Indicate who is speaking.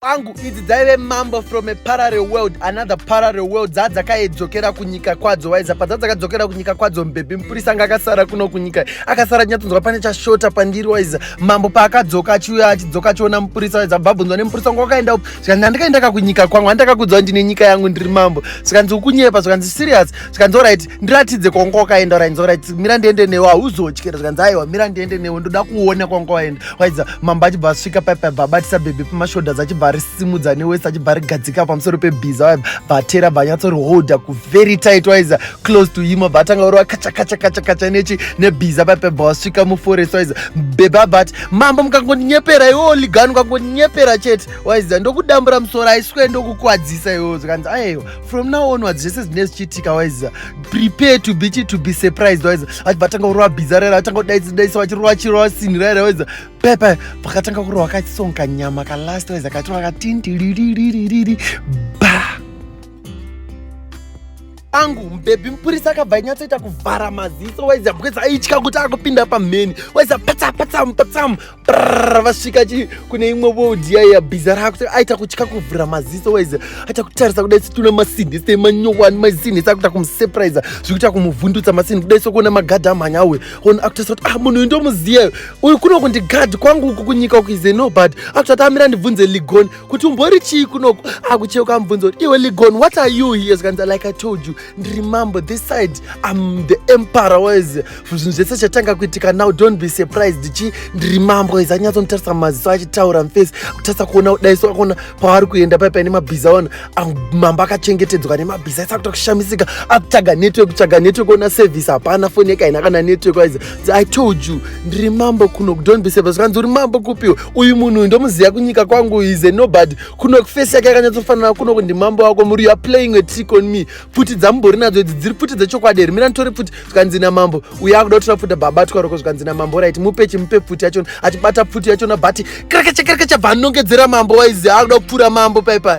Speaker 1: kwangu idzi dzaive mambo from a parallel world another parallel world dzaa dzakaidzokera kunyika kwadzo waiza padza dzakadzokera kunyika kwadzo mbhebhi mupurisa anga akasara kuno kunyika akasara nyatsonzwa pane chashota pandiri waiza mambo paakadzoka achiuya achidzoka achiona mupurisa waiza bvabvunzwa nemupurisa wangu wakaenda upi zvikanzi handikaendaka kunyika kwangu handakakudzwa ndine nyika yangu ndiri mambo zvikanzi ukunyepa zvikanzi serious zvikanzi orit ndiratidze kwanga wakaenda orit orit mira ndiende newe hauzotyira zvikanzi aiwa mira ndiende newe ndoda kuona kwanga waenda waidza mambo achibva asvika paipa bva abatisa bhebhi pamashodas achibva arisimudza newese achibva arigadzika pamusoro pebhiza waibva bvatera bva anyatsoriholda kuvery tight waidza close to him bva atanga uri wakachakachakachakacha nechi nebhiza paipa bva wasvika muforest waidza bhebhi abati mambo mukangoninyepera iwo ligani ukangoninyepera chete waidza ndokudambura musoro aiswe ndokukwadzisa iwo zvikanzi aiwa from now onwards zvese zvinee zvichiitika waiziva prepare to be to be surprised waiziva vati vatanga kurova bhiza raira vatanga kudaisidaiisa vachirova chirova sini raira waiziva pepe vakatanga kurova kasong kanyama kalast waiziva katirova katindiriririririri ba angu mubhebhi mupurisa akabva inyatsoita kuvhara maziso waiziva because aitya kuti akupinda pamheni waiziva patsamu patsamu patsamu vasvika chi kune imwe world yaiya bhiza rako aita kutya kuvhura maziso waize aita kutarisa kudai situna masinhi se manyowani masinhi sakuita kumusurprise zvikuita kumuvhundutsa masinhi kudai sokuona magadhi amhanya uyu ona akutarisa kuti ah munhu uyu ndomuziva uyu kuno kundi gadhi kwangu uku kunyika uku ize no but akuti ati amira ndibvunze ligon kuti umbori chii kunoku akucheuka amubvunza kuti iwe ligon what are you here zvikanzi like i told you ndiri mambo this side am the emperor waize zvinhu zvese chatanga kuitika now don't be surprised chi ndiri mambo izi anyatsonditarisa maziso achitaura mface kutarisa kuona udaiso akaona paari kuenda pai paine mabhiza aona mambo akachengetedzwa nemabhiza aisa kuta kushamisika akutsvaga network kutsvaga network ona service hapana foni yake haina kana network aizi i told you ndiri mambo kuno don't be surprised kanzi uri mambo kupiwo uyu munhu uyu ndomuziva kunyika kwangu ize nobody kuno face yake yakanyatsofanana kuno kundi mambo wako muri youare playing a trick on me pfuti dzamubori nadzo idzi dziri pfuti dzechokwadi here mira nditori pfuti zvikanzi namambo uye akuda kuti vafuta baba twaroko zvikanzi namambo right mupe chimupe pfuti yachona achibata pfuti yachona bati krakacha krakacha bva anongedzera mambo waizi akuda kupfura mambo paipai